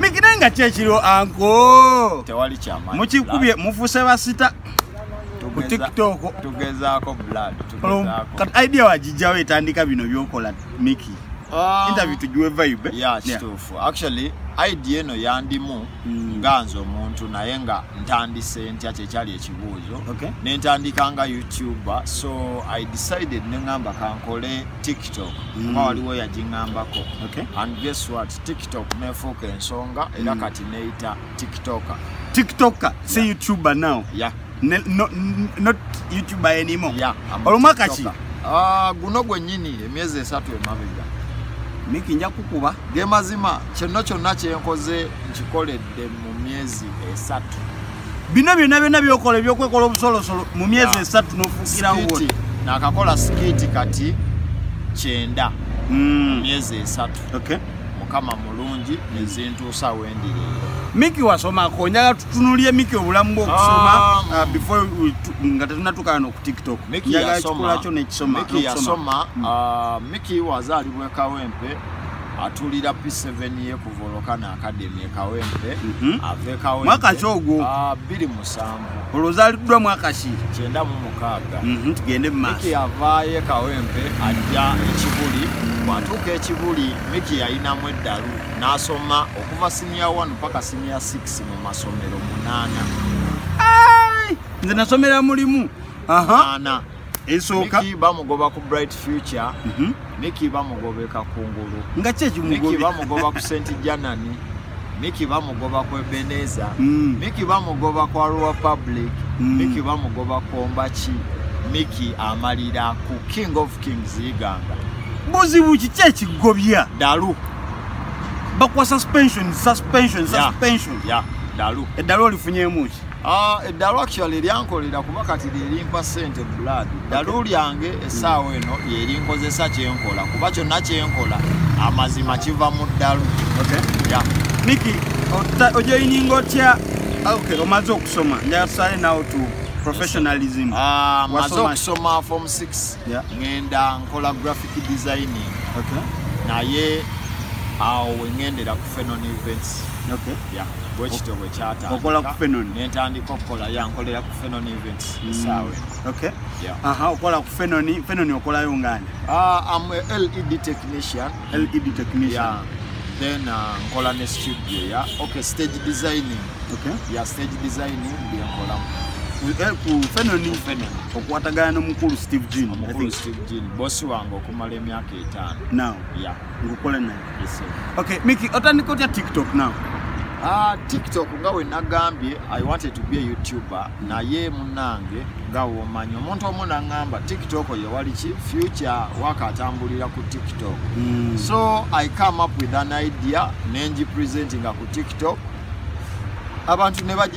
mikire nga kyekiro anko tewali kyama mukikubye mufuse basita ku tiktok tugezaako blood kati idea wagijjawo etandika bino byokola miki um, interview tugiwe vibe ya kituufu yeah. actually idea eno yandimu mm. nga nze omuntu naye nga ntandise ntya kyekyali ekibuuzo okay. nentandika nga youtuber so i decided neŋamba kankole tiktok mm. kuba waliwo yagingambako okay. and guess what tiktok nefuuka ensonga era mm. kati neyita tiktoka tiktoka si youtuber now yeah. ne, no, not youtuber anymore yeah, olumwaka ki ah, guno gwenyini emyezi esatu emabega miki nja kukuba ge mazima kino kyonna kyenkoze nkikoledde mu myezi esatu bino byonna byonna byokola ebyokwekola obusolosolo mu myezi esatu nofukirawo nakakola sikiti kati kyenda mm. myezi esatu okay. mukama mulungi nezintuusa wendi miki wasomako njala tutunulye miki obulamu bwokusoma ah, mm. uh, before nga tetunatukana noku tiktok njagala kikolakyo nekisoma miki yasoma mm. uh, miki wazaalibwa ekawempe atulira p7 ye kuvoloka naakademi ekawempe mhm. ava ekawempe mwaka ki ogwo 2 ah, musanvu olwo ozaliddwa mwaka ki kyenda mu mukaaga mhm, tugende mumaaso yavaayo ekawempe ajja ekibuli bwatuuka ekibuli miki yalinamu eddalu n'asoma okuva siniya 1 paka siniya 6 mu masomero munaana nze nasomera mulimu ana esooka Nikki bamugoba ku bright future mm -hmm. Nikki bamugobeka ku ngulu nga kye kimugobe Nikki bamugoba ku Saint Janani Nikki bamugoba ku Ebeneza mm. Nikki bamugoba ku Arua Public mm. Nikki bamugoba ku Ombachi Nikki amalira ku King of Kings Iganga buzibu ki kye kigobya dalu bakwa suspension suspension suspension yeah, yeah. dalu eddalu olifunyemuki Ah, eddalu actually lyankolera kuba kati lyerimpa ssente blood ddalu lyange essaawa hmm. eno lyerinkozesa kyenkola kuba kyonna kyenkola amazima kiva mu ddalu niki ojoyininga otya omaze okusoma njasale naw to professionalism ah, maze okusoma form 6 ngenda nkola graphic designing naye awo wengendera ku fenon events bwekityo bwekyatandika okukola yankolera ku fenon events mm. esaawe okola ku fenon fenon okolayo ngani ah, am led technician led technician then uh, nkola ne studio ya okay stage designing okay ya stage designing byenkolamu eh, ku fenon okwatagana nomukulu steve jean omukulu steve jean bosi wange okumala emyaka etaano now yeah ngokola naye okay miki otandika otya tiktok now Uh, tiktok nga wenagambye i wanted to be a youtuber naye munange nga womanyi omuntu omu naŋamba tiktok yewaliki future waka atambulira ku tiktok mm. so i come up with an idea nengi presentinga ku tiktok abantu ne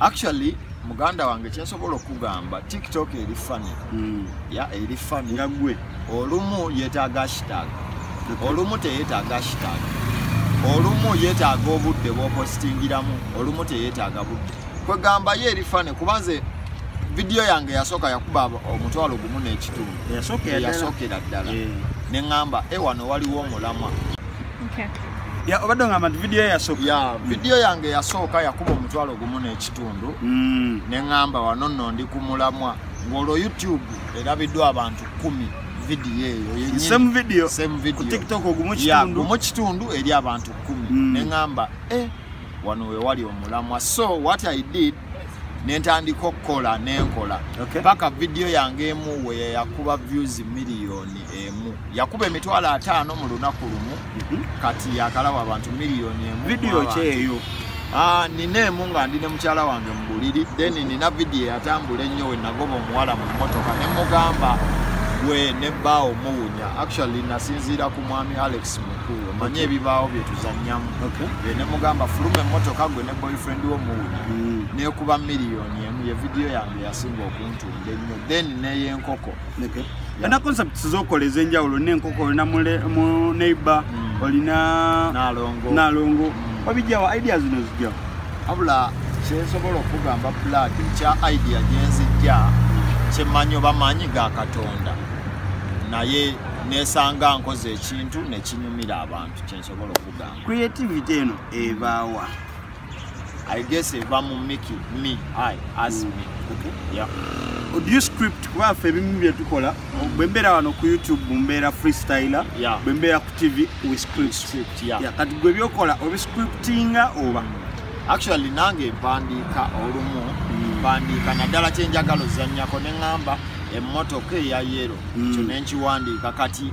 actually muganda wange kyensobola okugamba tiktok eri fani hmm. ya eri fani nga gwe olumu yetaaga hashtag olumu teyetaaga hashtag olumu yetaaga obudde bwopositingiramu olumu teyetaaga budde kwegamba ye eri fani kuba nze vidiyo yange yasooka yakuba omutwalo gumu n'ekitundu yasookera ddala eh. ne ŋŋamba ewano eh, waliwo omulamwa Ya obadde ngamba nti video yasooka. Ya video yange yasooka yakuba omutwalo gumu n'ekitundu. Mm. Ne ngamba wano nno ndi ku mulamwa ng'olwo YouTube erabiddwa abantu kumi video eyo yennyini. Same video. Same video. Ku TikTok ogumu kitundu. Ya gumu kitundu eri abantu kumi. Mm. Ne ngamba eh wano we wali omulamwa. So what I did nentandika okukola nenkola paka okay. vidiyo yange emu weye yakuba views miliyoni emu yakuba emitwalo ataano mu lunaku lumu mm -hmm. kati yakalawa abantu miliyoni emu vidiyo kyeyo Ah, nina emu nga ndi ne mukyala wange mu buliri then nina vidiyo eyatambula ennyo we nagoba omuwala mu mmotoka ne mugamba gwe ne bbaawo muwunya actually nasinziira ku mwami alex mu omanyi ebibaawo byetuzanyamu nemugamba fuluma emotoka gwe ne boyfriend wo muwunya hmm. nekuba miliyoni emu ye vidiyo yange yasinga okuntunda ennyo then neyenkoko ena concepts zokola ezenjawulo nenkoko olina mu neighbor hmm. olina nalongo hmm. obijawo idea zino zijawo abula kyensobola okugamba plad ekya idea gyenzijja kyemanyi oba maanyi ga katonda naye nesanga nkoze kintu nekinyumira abantu kyensobola okugamba creativity eno ebaawa i guess eva mu miki me i as mm. me okay. yeah. audio script kuba ffe ebimu byetukola mm. bwembeera wano ku youtube mbeera freestyler yeah. bwembeera ku tv we script, script yeah. yeah. kati gwe byokola obiscriptinga oba mm. actually nange mpandiika olumu mm. mpandiika mm. naddala kyenjagala ozanyako neŋamba emmotoka eya yero mm. kyo nenkiwandiika kati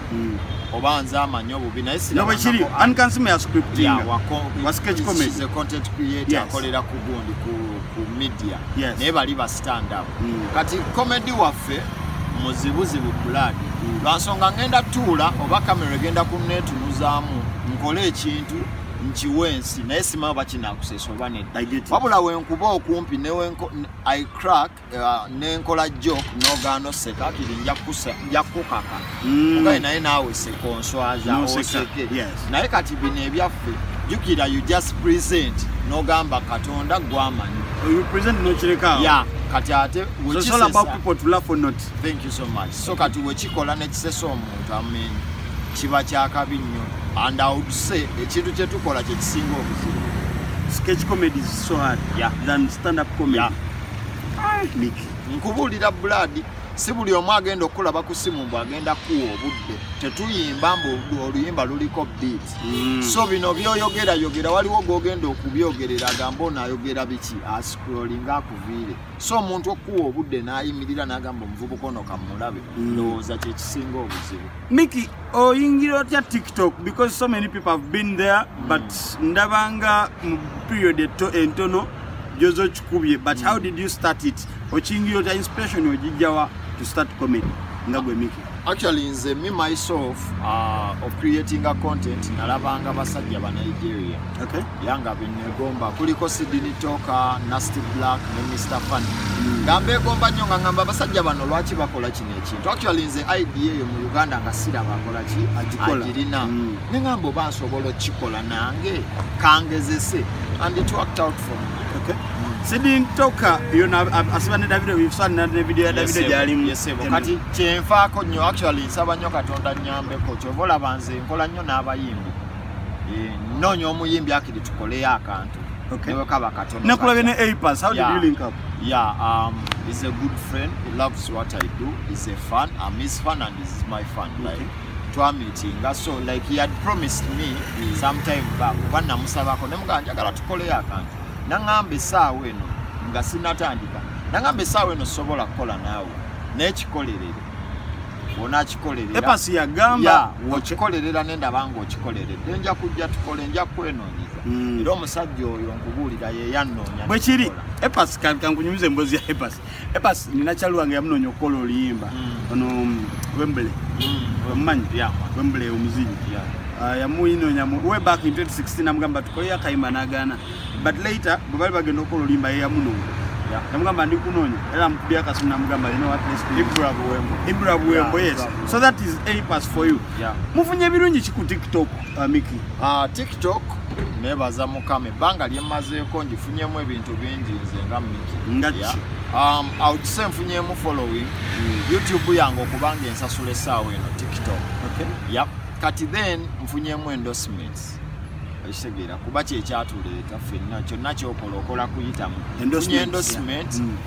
mm. oba nze amanyi obubi naye sinobwekiri ankansima ya scriptingcontent create akolera ku gundi ku media naye bali ba stand up mm. kati comedy waffe muzibuzibu blood mm. lwansonga ngenda tuula oba kamera egenda kunetunuzaamu nkole ekintu nkiwa ensi naye simaa bakinakusesa oba nedda wabula wenkuba okumpi newenko i crack uh, nenkola jok nogano seka kiri njakukaka mm. ogaye naye nawe sekonswaza oseke naye kati bino ebyaffe jukira you just present nogamba katonda gwamanyi ya kati ate thank you so much so kati wekikola nekisesa omuntu amen kiba kyakabi nnyo and i would say ekintu kyetukola kyekisinga obuzibu sketch comedy is so hard yeah. than stand up comedy yeah. nkubuulira bulaadi si buli omu agenda okukulaba ku simu mbu agenda kuwa obudde tetuyimba mbu oluyimba luliko beat mm. so bino byoyogera yogera waliwo gogenda okubyogerera agamba ono ayogera biki ascrolling akuviire so omuntu okuwa obudde n'ayimirira n'agamba omuvubuka ono kamulabe mm. ndowooza kyekisinga obuzibu miki oyingira otya tiktok because so many people have been there but ndabanga mu period eto entono gyoza okikubye but how did you start it okiyingira otya inspiration ogijjawa to start comedy nga gwe miki actually nze me myself uh, of creating a content nalabanga basajja ba nigeria okay. yanga benegomba kuliko sidini toka nasty black ne mr fun mm. nga mbegomba nyo nga ngamba basajja bano lwaki bakola ekintu actually nze idea eyo mu uganda nga siraba akola ki agirina mm. ne ngamba oba nsobola okukikola nange kangezese and it worked out for me okay. mm. sidin toka yona asiba ne davido bifusana ne video ya davido gyalimu yesebo kati kyenfaako nnyo actually nsaba nnyo katonda nnyambeko kyova olaba nze nkola nnyo n'abayimbi eh, nnoonya omuyimbi akiri tukoleyo akantu Okay. Never cover Katono. Nakulabye ne Apas. How yeah. did you link up? Yeah, um, he's a good friend. He loves what I do. He's a fan. I'm his fan and this is my fan. Okay. Like, twamitinga so like he had promised me mm. sometime back kuba namusabako nemugaa njagala tukoleyo akantu naŋamba esaawa eno nga sinatandika naŋamba esaawa eno sobola kukola naawe naye kikolerere onakikolerera okikolerera nendaba nga okikoleredde nja kujja tukole nja kweno okuyigiriza mm. era omusajja oyo nkubuulira yeyannoonya bwe kiri epas kankunyumiza emboozi ya epas epas nina kyali wange yamunoonya okukola oluyimba mm. ono um, wembele mm. omumanyi wembele omuzinyi ah, yamuyinoonya way back in 2016 namugamba tukoleyo akayimba nagaana but later bwe bali bagenda okukola oluyimba yeyamunoonya namugamba ndi kunoonya era mukubye akasimu namugamba ibrabuwembo yes so that is apas for you mufunye ebirungi ki ku tiktok amiki ah, uh, tiktok nebaza mukama ebbanga lyemazeeko ngifunyemu ebintu bingi nze nga miki ngaki um, aukise nfunyemu following mm. youtube yange okubanga ensasula esaawa eno tiktok okay. yep. kati then nfunyemu endorsements ekitegeera kuba kyekyatuleeta fenna kyonna kyokola okola kuyitamu endorsement mm.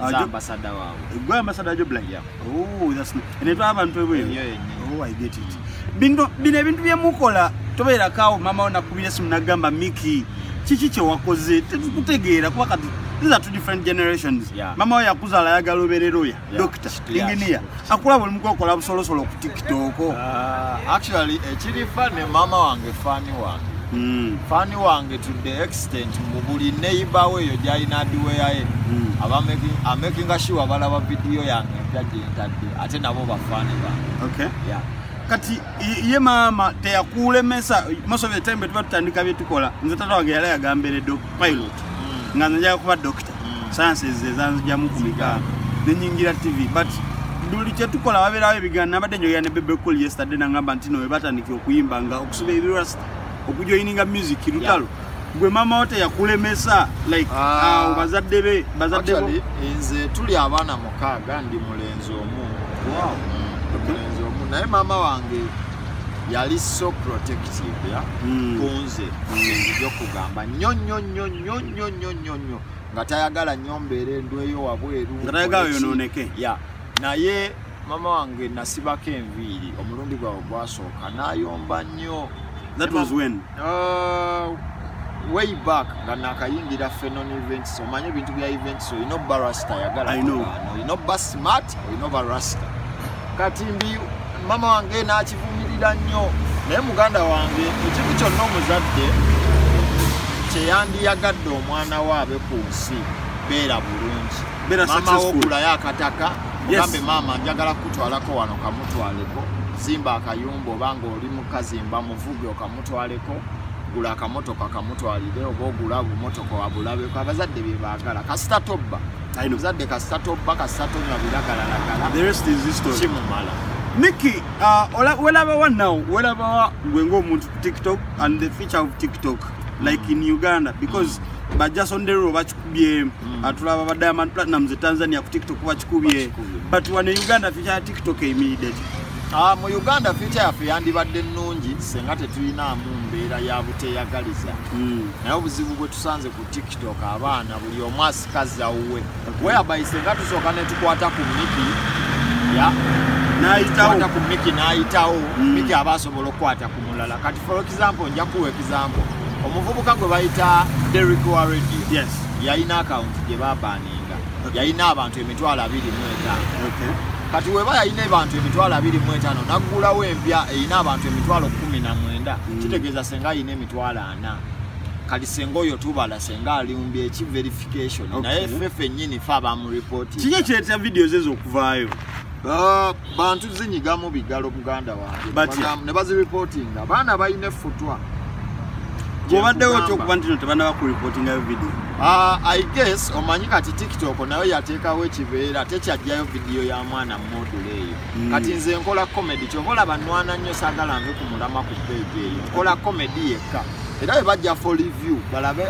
Ajo- ambasada waabwe gwe ambasada jo black Yeah. oh that's nice ene twa abantu ebweru Eyo yennyini. oh i get it bino bino ebintu bye mukola tobeera kawo mama ona kubira simu nagamba miki kiki kye wakoze tetukutegeera kuba kati these are two different generations Yeah. mama we yakuzala ayagala obeerera oya Yeah. doctor engineer akula buli mukokola busolosolo ku tiktok uh, actually ekiri fani mama wange fani wange mm. fani wange to the extent mu buli neighbor we yo jalina adiweyaye mm. aba making a making sure balaba video yange jaje ntadde ate nabo bafani ba okay yeah kati ye mama teyakulemesa most of the time betuba tutandika byetukola nze tata wange yali agamberedde pilot mm. nga nze njaga kuba doctor sayansi ze zanzijamu ku migaano nenyingira tv but buli kyetukola wabeerawo ebigaano nabadde njoya ne bebecol yesterday nangamba nti no webatandika okuyimba nga okusiba ebirasta okujoyininga music lutalo gwe mama wote yakulemesa like ah. uh, bazadde be bazadde bo nze tuli abaana mukaaga ndi mulenzi omu wow. okay. mulenzi omu naye mama wange yali so protective ya mm. kunze mm. nzija okugamba nyo nyo nyo nyo nnyo nnyo nnyo nnyo nga tayagala nnyo mbeera endweyo wabweru nga tayagala yonooneke ya naye mama wange nasibako enviiri omulundi gwawe gwasooka nayomba nnyo that was when uh, way back nga nakayingira fenon events omanye ebintu bya events olina obba rasta yagala olina obba smart olina obba rasta kati mbi mama wange n'akivumirira nnyo naye muganda wange ekintu kyonna omuzadde kyeyandiyagadde omwana we abe ku nsi beera bulungi mama wogulayo akataka mugambe maama njagala kukutwalako wano kamutwaleko zimba akayumba oba ngaoli mukazimba muvuge okamutwaleko gula akamotoka kamutwalire oba ogula obumotoka wabulabeko abazadde byebaagala kasita tobba I know. Zadde kasato bba kasato nga biragalalagala. The rest is history. Kimumala. Nikki, uh, welaba wa now, welaba wa gwe ng'omuntu ku TikTok and the feature of TikTok like in Uganda because mm. bajasondero bakikubye mm. atulaba ba diamond platinum ze tanzania ku tiktok bakikubye but wano e uganda feature ya tiktok eyimiridde ki ah, mu uganda feature yaffe yandibadde nnungi senga tetulinaamu mbeera ya buteyagaliza mm. naye obuzibu bwe tusanze ku tiktok abaana buli omu asikaza wuwe weyabayise nga tusooka netukwata ku miki ya nayitawokwata ku miki nayitawo mm. miki aba asobola okukwata ku mulala kati for example nja kuwa example omuvubuka gwe bayita derik wa radio yes. yalina akawunti gye babaninga okay. yalina abantu emitwalo abiri mu etaano okay. kati weba yalina abantu emitwalo abiri mu etaano naggulawo empya erina abantu emitwalo kumi na mwenda mm. kitegeeza senga alina emitwalo kati senga oyo tubala senga aliumbye eki verification okay. naye ffe fennyini fe abamuripoti kiki ekireetera vidiyo ze zokuvaayo uh, bantu zinyigamu bigalo muganda wange ne baziripotinga abaana balina effutwa obaddewo kyokuba ntino tebanaba kuripotingayo vidiyo uh, i guess omanyi kati tiktok nayo yateekawo ekibeera tekyajjayo vidiyo ya mwana mumodule eyo mm. kati nze nkola comedy kyova olaba nwana nnyo sagala nve ku mulama ku page eyo nkola comedy yekka era bwe bajja for review balabe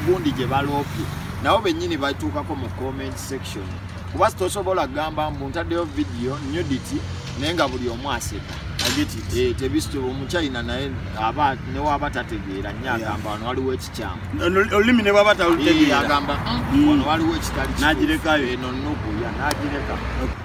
gundi gye baloopye nabo bennyini batuukako mu comment section kuba sitosobola kugamba mbu ntaddeyo vidiyo nudity naye nga buli omu aseka eh, tebisitoba omuchina naye aba newaaba tategeera nyo agamba wano waliwo ekikyamu olulimi ne bwaba talutegeera eh, agamba mm, mm. wano waliwo ekitali nagirekayo eno eh, nukuya nagireka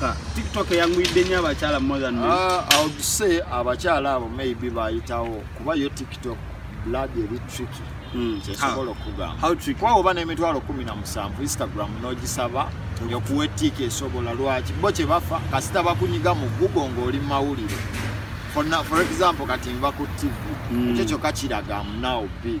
Ka, TikTok yanguyidde nnyo abakyala more than men. Uh, I would say abakyala abo maybe bayitawo kuba yo TikTok blood eri tricky. Hmm. Kyesobola okugamba. How tricky? Kwa oba n'emitwalo kumi na musanvu Instagram n'ogisaba okuwa ettiika esobola lwaki bo kye bafa kasita bakunyiga mu Google ng'oli mu mawulire. For, for example kati nva ku TV. Mm. Ekyo kyokka kiraga am now big.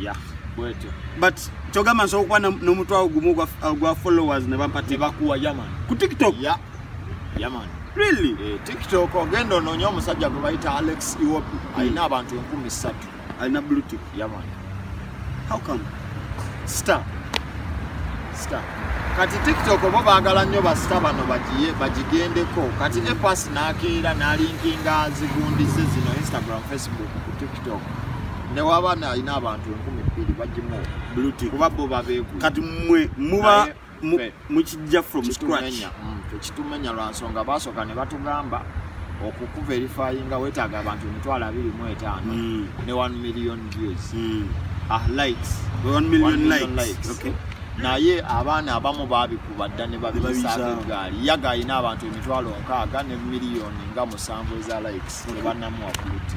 ya bwetyo but kyogamba nsobola okuba n'omutwawo gumu gwa followers ne bampati ne bakuwa yaman ku tiktok ya yaman really eh, tiktok ogenda onoonya omusajja gwe bayita alex iwopi hmm. alina abantu enkumi ssatu alina blutik yaman how come star star kati tiktok obo baagala nnyo basita bano bagigendeko kati epas naakeera nalinkinga zigundi ze zino instagram facebook ku tiktok newaba nalina abantu enkumi bbiri bagimu kuba bo babeegu kati mwe muba mukijja from scratch mm, tekitumenya lwansonga basooka ne batugamba okukuva erifayinga wetaaga abantu emitwalo abiri mu etaano mm. ne 1 million views mm. ah, likes naye abaana abamu babikuba dda ne babisaagaali yaga alina abantu emitwalo nkaaga ne miliyoni nga musanvu eza likes ne banamuwakuluti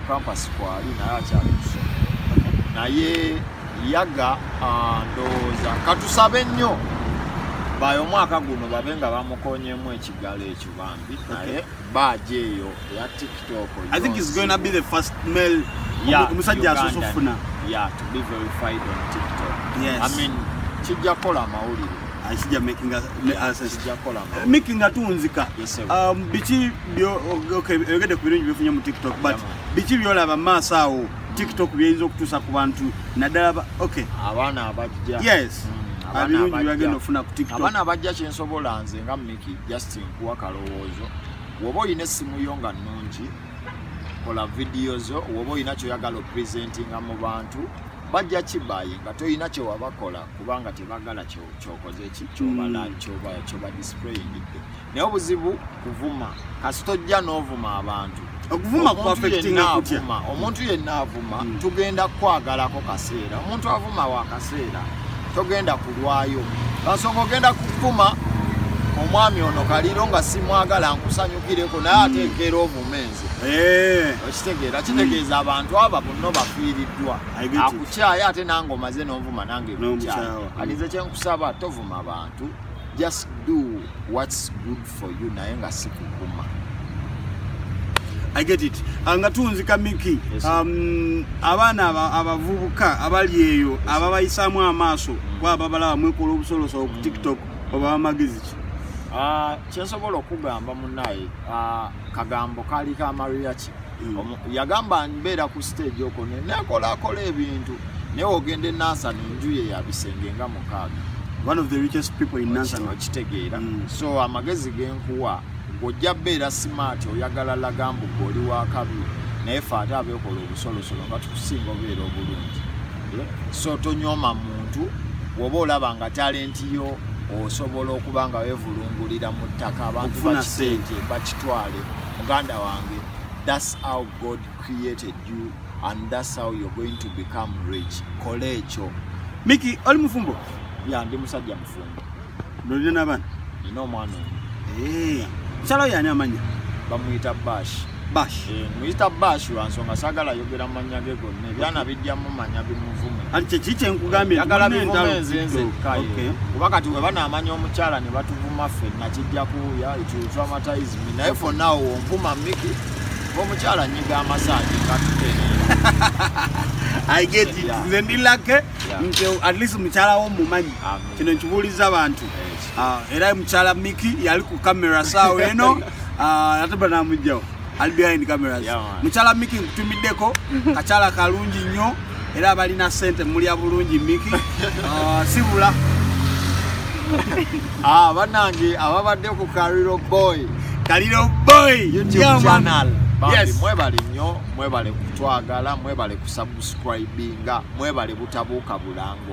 Campus kwali naye akyali kusomero naye yaga ah, ndowooza katusabe nnyo baye omwaka guno babe nga bamukonyemu ekigalo ekyo bambi naye baaja eyo eya tiktok omusajja asoose okufuna kijja kukola amawulire kijja kukola amawulire miki nga tunzika um, biki oyogedde ku birungi byefunye mu tiktok but biki byolaba maaso awo tiktok byeyinza okutuusa ku bantu naddala ok abaana abajja yes mm. abaana abajja kyensobola nze nga miki just nkuwa kalowoozo woba olina essimu yo nga nnungi kola vidiyo zo woba olina kyoyagala opresentinga mu bantu bajja kibaye nga tolina kyewabakola kubanga tebagala kyokoze kyobalankyobadisprayingidde mm. naye obuzibu kuvuma kasita ojja n'ovuma abantu okuvuma kuafectingakutya omuntu yenna avuma hmm. tugenda kukwagalako kaseera omuntu avuma wa kaseera togenda kulwayo kasonga ogenda kukuma omwami ono kaliro nga simwagala nkusanyukireko naye hmm. atekeera omumenzi eh. okitegeera kitegeeza hmm. abantu aba bunno bafiiriddwa akukyaye ate nange omaze n'ovuma nange kukyaye alize kyenkusaba tovuma bantu just do what's good for you naye nga sikukuma I get it. Anga tunzi kamiki. Yes, um, abana abavubuka abali eyo yes, ababayisamu amaso mm. kwa babala mwekola obusolo so mm. TikTok oba magiziki. Ah, uh, kyesobola okugamba munaye. Ah, uh, kagambo kaali ka mariachi mm. yagamba mbeera ku stage oko nekolakola ebintu naye ogenda enansani njuye yabisenge nga mukaaga okitegeera mm. so amagezi genkuwa ng'ojja beera simaati oyagala lagambu gwe oli wakabi naye fe ate abeekola obusolosolo nga tukusinga obeera obulungi so tonyooma muntu woba olaba nga talenti yo osobola okuba nga wevulungulira mu ttaka abantu bakisente bakitwale muganda wange thats how god created you and thats how you're going to become rich kola ekyo miki oli mufumbo ya ndi musajja mufumbo Nolina nabana? Nina omwana omu. Eh. Mukyala oyo ani amanya? Bamuyita Bash. Bash. Eh, muyita Bash lwa nsonga sagala yogera manya ge gonna. Ebyana bijja mu manya bimuvume. Ani kye kiki enkugambye nti yagala bivume nzenze kaye. Okay. Kuba kati we bana amanya omukyala ne batuvuma ffe na kijja ku ya it will traumatize me. Naye for now omvuma Mickey. Omukyala nyiga amasaji katutene. I get it. Yeah. Nze ndi lucky. Yeah. Nze at least omukyala wo mumanyi. Amen. kino nkibuuliza abantu ah, era mukyala miki yali ku kamera saawa eno ah, ate banamugjawo ali behind cameras mukyala miki nkutumiddeko kakyala kalungi nnyo era balina sente mulya bulungi miki ah, sibula banange ababadde ku kariro boy kariro boy mwebale nnyo mwebale kutwagala mwebale kusubscribinga mwebale butabuuka bulango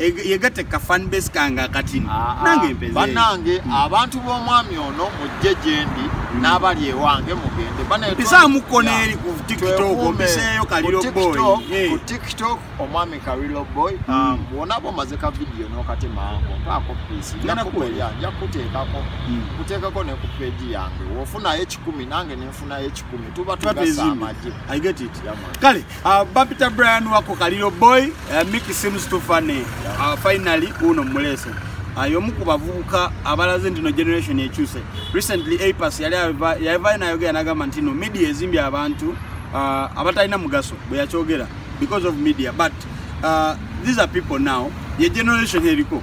yegatte kafanbase kange akatini ah, ah. nange mpeze banange hmm. abantu b'omwami ono mujje gyendi hmm. n'abali ewange mugende mpisaamuko n'eri ku tiktok mpiseeyo kaliro boy ku tiktok omwami kaliro boy hmm. um, bwona bwomaze ka vidiyo n'okatemaango mpaako piisi njakukolya nja kukuteekako kuteekako ne ku peegi yange wofunayo ekikumi nange nenfunayo ekikumi tuba tugasa amagye kale Uh, Bapita Brian wako Kalilo boy uh, Mickey seems too funny uh, finally uno mulese uh, yomu kubavuka abalaze ndino generation yechuse recently APAS yali yava na yoga yanaga mantino media ezimbi abantu uh, abatalina mugaso boya chogera because of media but uh, these are people now ye generation heliko